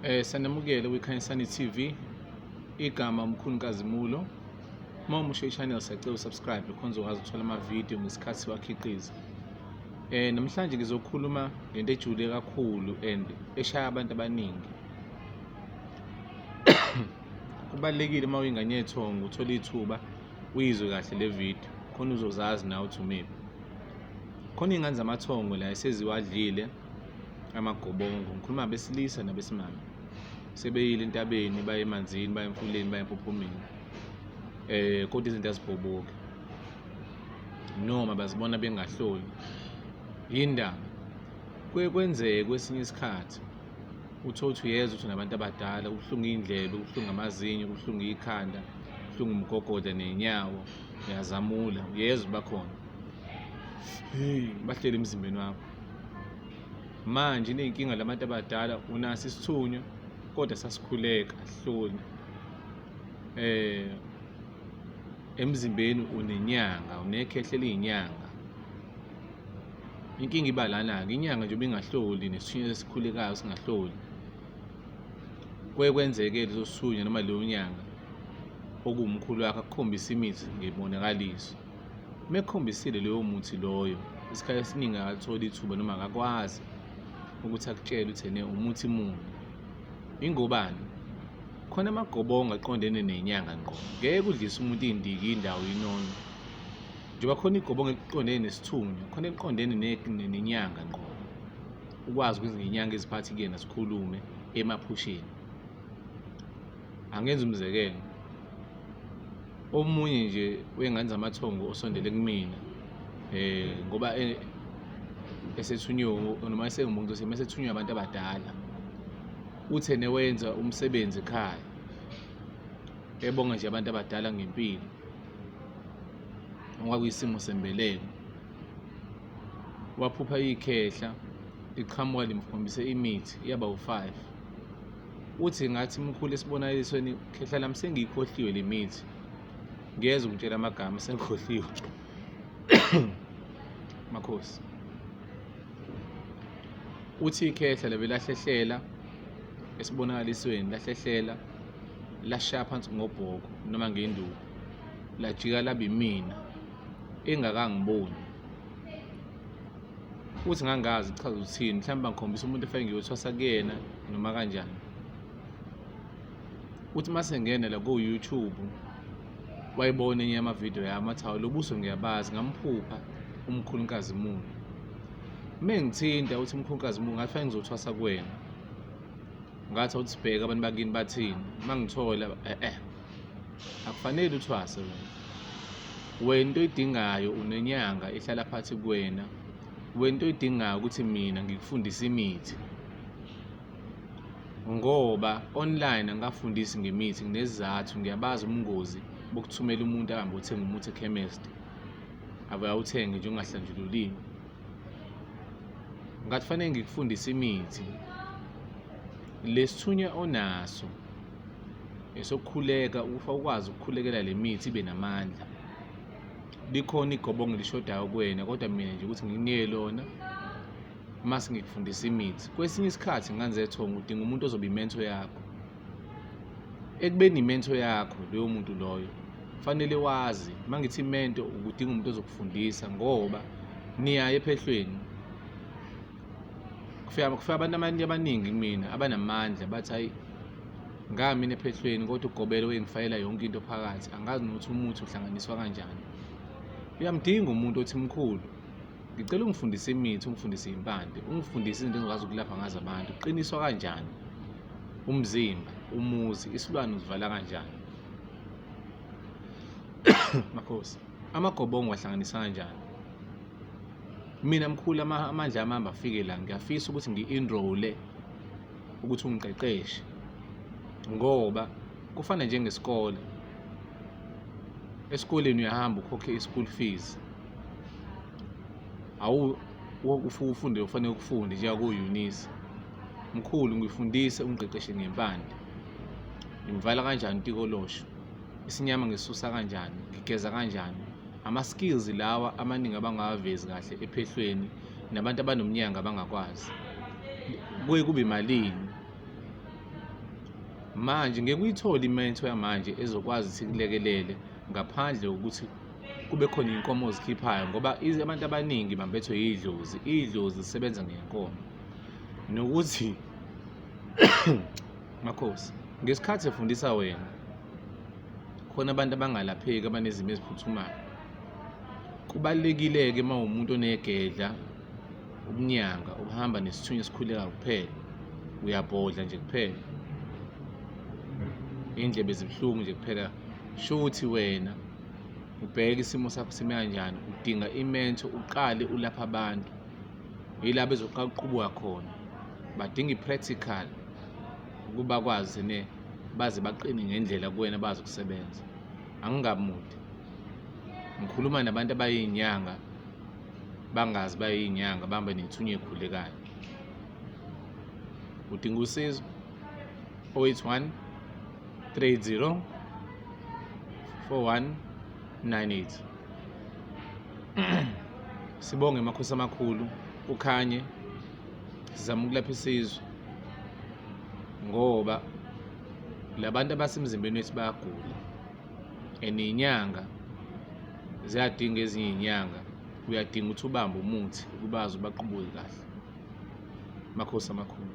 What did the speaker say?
Eh sanamukele kwiKhanyisani TV. Igama umkhulu Nkazimulo. Uma umusho i-channel siyacela usubscribe khona uzokwazi ukuthola ama-video ngesikhathi siwakhiqiza. Eh namhlanje ngizokhuluma ngento ejule kakhulu and eshaya abantu abaningi. Kubalekile uma uyingane yethongo uthola ithuba uyizwe kahle le video khona uzozazi nawe uthi umephi. Khona ingane zamathongo la eseziwadlile amagobongo ngikhuluma abesilisa nabesimame sebeyile entabeni baye emanzini baye emfuleni baye empophomeni eh kodwa izinto azibhoboki noma bazibona bengahloli yindaba kuye kwenzeke kwesinye isikhathi uthole ukuthi uyeza ukuthi nabantu abadala kubuhlungu iy'ndlela kubuhlungu amazinyo kubuhlungu ikhanda kubuhlungu umgogoda ney'nyawo uyazamula uyeza ubakhona bahleli emzimbeni wakho manje iney'nkinga labantu abadala unaso isithunywa kodwa sasikhuleka hloni eh emzimbeni unenyanga unekhehle liyinyanga inkinga iba lana-ke inyanga nje ubingahloli nesithunywa esikhulekayo singahloli kuye kwenzeke leso sithunywa noma leyo nyanga okuwumkhulu wakhe akukhombisa imithi ngebonakaliso Uma ekhombisile loyo muthi loyo, isikhathi esiningi akatholi ithuba noma akakwazi ukuthi akutshele ukuthi ene umuthi muni. Ingobani? Khona amagobongo aqondene nenyanga ngqo. Ngeke udlise umuntu iy'ndiki indawo inono. Njengoba khona igobongo eliqondene nesithunywa, khona eliqondene nenyanga ngqo. Ukwazi ukuthi ngenyanga iziphathi kuyena sikhulume emaphusheni. Angenza umzekelo, omunye nje wey'ngane zamathongo osondele kumina um ngoba e, esethunywe noma esengumuntu sema esethunywe abantu abadala uthe newenza umsebenzi ekhaya ebonga nje abantu abadala ngempilo ngoba kuyisimo sembeleko waphupha ikhehla iqhamuka limkhombise imithi yaba u-five uthi ngathi mkhulu esibonakalisweni khehla lami sengiyikhohliwe le mithi ngiyeza ukutshela amagama sengikhohliwe makhosi uthi ikhehla lebe lahlehlela esibonakalisweni lahlehlela lashaya phansi ngobhoko noma ngenduku lajika labe mina engakangiboni ukuthi ngangazi kuchaza ukuthini mhlawumbe bangikhombisa umuntu efake ngiyothwasa kuyena noma kanjani uthi uma sengena la ko-youtube wayibona enye yamavidiyo yami athi hawu lo buso ngiyabazi ngamphupha umkhulukazi muni uma ngithinta uthi umkhulukazi muni ngathi fanele ngizothwasa kuwena ngathi awuthi sibheke abantu bakini bathini uma ngithola e-e akufanele uthwase wena wena into oyidingayo unenyanga ehlala phathi kuwena wena into oyidingayo ukuthi mina ngikufundise imithi ngoba online angikafundisi ngemithi nginezizathu ngiyabazi ubungozi bokuthumela umuntu ahambe othenga umuthi ekhemesti abuye awuthenge nje ungahlanjululiwe ngathi fanele ngikufundise imithi lesithunywa onaso esokukhuleka ukufa ukwazi ukukhulekela le mithi ibe namandla likhona igobongo elishodayo kuwena kodwa mina nje ukuthi nginike lona uma singikufundisa imithi kwesinye isikhathi nganzethonga udinga umuntu ozobe imento yakho ekubeni imento yakho loyo muntu loyo fanele wazi uma ngithi imento ukudinga umuntu ozokufundisa ngoba niyaye ephehlweni kufika kufika abantu abantu abaningi kumina abanamandla bathi hayi ngami mina ephehlweni kodwa ugobelo wengifayela yonke into phakathi angazi nokuthi umuthi uhlanganiswa kanjani uyamdinga umuntu othi mkhulu ngicela ungifundise imithi ungifundise impande ungifundise izinto engikwazi ukulapha ngazo abantu qiniswa kanjani umzimba umuzi isilwane uzivala kanjani makhosi Amagobongo wahlanganisa kanjani? Mina mkhulu amandla ami ahamba afike la ngiyafisa ukuthi ngi-enroll-e ukuthi ungiqeqeshe ngoba kufana njengesikole. Esikoleni uyahamba ukhokhe i-school fees. Awu ufunde ufanele ukufunde njenga ko-Eunice. Mkhulu ngifundise ungiqeqeshe ngempande. Ngimvala kanjani utikolosho? isinyama ngisusa kanjani ngigeza kanjani ama-skills lawa amaningi abangawavezi kahle ephehlweni nabantu abanomnyanga abangakwazi kuye kube malini manje ngeke uyithole imento yamanje ezokwazi ukuthi kulekelele ngaphandle kokuthi kube khona iy'nkomo ozikhiphayo ngoba abantu abaningi bambethwe yidlozi idlozi zisebenza ngenkomo nokuthi Makhosi, ngesikhathi efundisa wena khona abantu abangalapheki abanezimo eziphuthumayo. Kubalulekile-ke uma uwumuntu onegedla, ubunyanga, ubuhamba nesithunywa esikhulekayo kuphela. Uyabhodla nje kuphela. Iy'ndlebe zibuhlungu nje kuphela. Shuthi wena ubheke isimo sakho sime kanjani, udinga imento, uqale ulaphe abantu. Yila bezoqala ukuqubuka khona. Badinga i-practical. ukuba kwazi ne baze baqine ngendlela kuwena bazi ukusebenza angingamudi ngikhuluma nabantu abayinyanga bangazi bayinyanga bambe nethunya ekhulekayo udinga usizo 081 30 4198 sibonge emakhosi amakhulu ukhanye sizama ukulapha isizwe ngoba labantu abasemzimbeni wethu bayagula and inyanga ziyadinga ezinye inyanga uyadinga ukuthi ubambe umuthi ukubazi ubaqubule kahle makhosi amakhulu